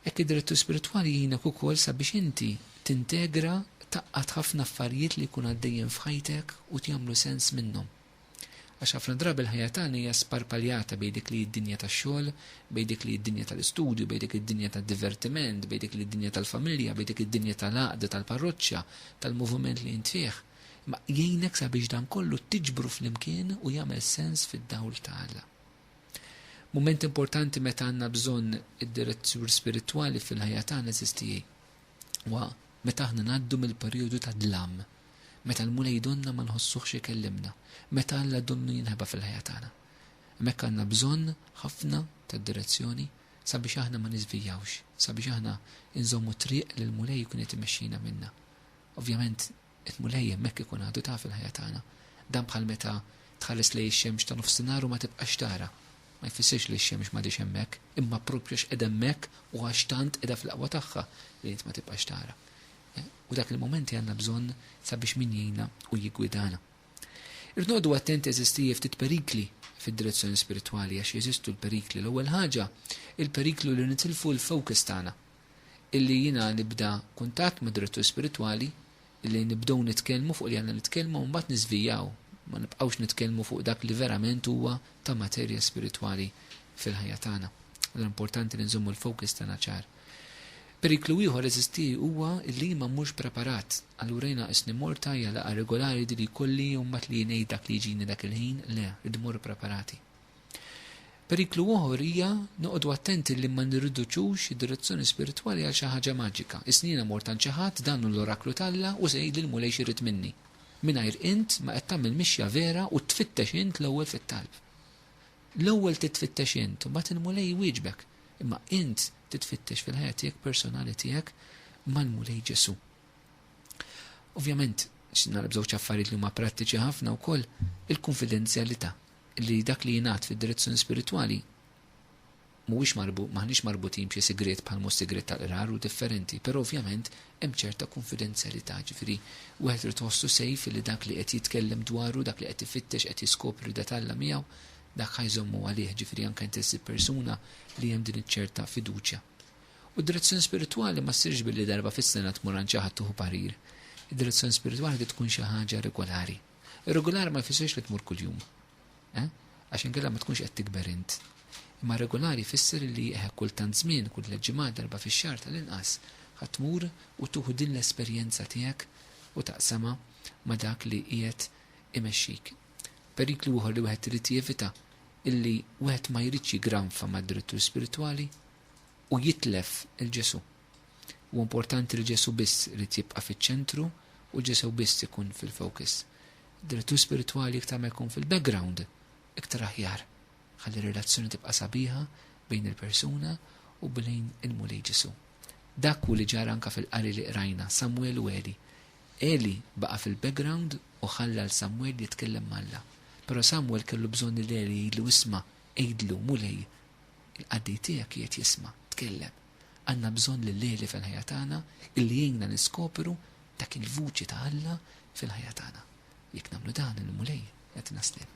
Hekk id-direttur spiritwali jgħinek ukoll sabiex inti tintegra taqqat ħafna affarijiet li jkun għaddejjin f'ħajtek u tjagħmlu sens minnhom. Għax ħafna drabi l-ħajja tagħna hija sparpaljata bejn dik li id-dinja tax-xogħol, bejn dik li id-dinja tal-istudju, bejn dik id-dinja tad-divertiment, bejn dik li id-dinja tal-familja, bejn dik id-dinja tal-għaqda tal-parroċċa, tal-moviment li int fih. Ma jgħinek sabiex dan kollu tiġbru flimkien u jagħmel sens fid-dawl ta' Alla. Mument importanti meta għandna bżonn id-direzzjur spiritwali fil-ħajja tagħna żistijie. Wa meta aħna ngħaddu mill-perjodu ta' dlam, meta l-Mulej donna ma nħossuhx ikellimna, meta Alla donnu jinħeba fil-ħajja tagħna. Hemmhekk għandna bżonn ħafna tad-direzzjoni sabiex aħna ma niżvijawx, sabiex aħna inżommu t-triq li l-Mulej ikun qed imexxina minnha. Ovvjament, Il-Mulej hemmhekk ikun għadu ta' fil-ħajja tagħna. Dan bħal meta tħares lejn ix-xemx ta' nofsinhar u ma tibqax tara. Ma jfissirx li x-xemx m'għadhiex hemmhekk, imma proprju għax qiegħda hemmhekk u għax tant qiegħda fl-aqwa tagħha li int ma tibqax tara. U dak il-mument li għandna bżonn sabiex min jgħinna u jiggwidana. Irrid noqogħdu attenti għażiż tiegħi ftit perikli fid-direzzjoni spiritwali għax jeżistu l-perikli. L-ewwel ħaġa, il-periklu li nitilfu l-focus tagħna, illi jiena nibda kuntatt mad-direttur spiritwali, illi nibdew nitkellmu fuq li għandna nitkellmu u mbagħad niżvijaw, ma nibqgħux nitkellmu fuq dak li verament huwa ta' materja spiritwali fil-ħajja tagħna. Allura importanti li nżommu l-focus tagħna ċar. Periklu ieħor eżisti huwa li ma mmurx preparat. Allura jiena qisni morta hija laqgħa regolari li jkolli jew mbagħad li ngħid dak li jiġini dak il-ħin, le, rridu mmorru preparati. Periklu oħor hija noqogħdu attenti li ma nirriduċux id-direzzjoni spiritwali għal xi ħaġa maġika. Isni jiena mort għand xi ħadd, dan hu l-oraklu t'Alla u se jgħidli l-Mulej x'irid minni. Mingħajr int ma qed tagħmel mixja vera u tfittex int l-ewwel fit-talb. L-ewwel titfittex int u mbagħad il-Mulej iwieġbek. Imma int titfittex fil-ħajja tiegħek personali tiegħek mal-Mulej Ġesu. Ovvjament, x'nara b'żewġ affarijiet li huma prattiċi ħafna wkoll il-kunfidenzjalità. li dak li jingħad fid-direzzjoni spiritwali mhuwiex marbu, m'aħniex marbutin b'xi sigriet bħal mhu s-sigriet tal-qrar u differenti, però ovvjament hemm ċerta kunfidenzjalità, ġifieri wieħed irid iħossu safe li dak li qed jitkellem dwaru, dak li qed ifittex, qed jiskopri da t'Alla miegħu, dak ħa jżommu għalih, ġifieri anke inti ssib persuna li hemm din iċ-ċerta fiduċja. U d-direzzjoni spiritwali ma ssirx billi darba fis-sena tmur għand xi ħadd tieħu parir. Id-direzzjoni spiritwali trid tkun xi ħaġa regolari. Irregolari ma jfissirx li tmur kuljum. Eh? Għax inkella ma tkunx qed tikber int. Imma regolari jfisser li eħe eh, kultant żmien, kull tliet ġimgħat darba fix-xahar tal-inqas ħadd tmur u tuħu din l-esperjenza tiegħek u taqsama ma' dak li qiegħed imexxik. Periklu ieħor li wieħed irid jevita illi wieħed ma jridx jigranfa mad-direttur spiritwali u jitlef il-Ġesu. Huwa importanti li Ġesù biss irid jibqa' fiċ-ċentru u Ġesù biss ikun fil-focus. Id-direttur spiritwali iktar ma jkun fil-background, iktar aħjar. Ħalli r-relazzjoni tibqa' sabiħa bejn il-persuna u bejn il-Mulej Ġesù. Dak hu li ġara anke fil-qari li qrajna, Samwel u Eli. Eli baqa' fil-background u ħalla 'l Samwel jitkellem ma' Alla. Però Samwel kellu bżonn lil Eli jgħidlu isma', għidlu, Mulej, il-qaddej tiegħek qiegħed jisma', tkellem. Għandna bżonn lil Għeli fil-ħajja tagħna illi jgħinna niskopru dak il-vuċi ta' Alla fil-ħajja tagħna. Jekk nagħmlu dan il-Mulej qed naslin.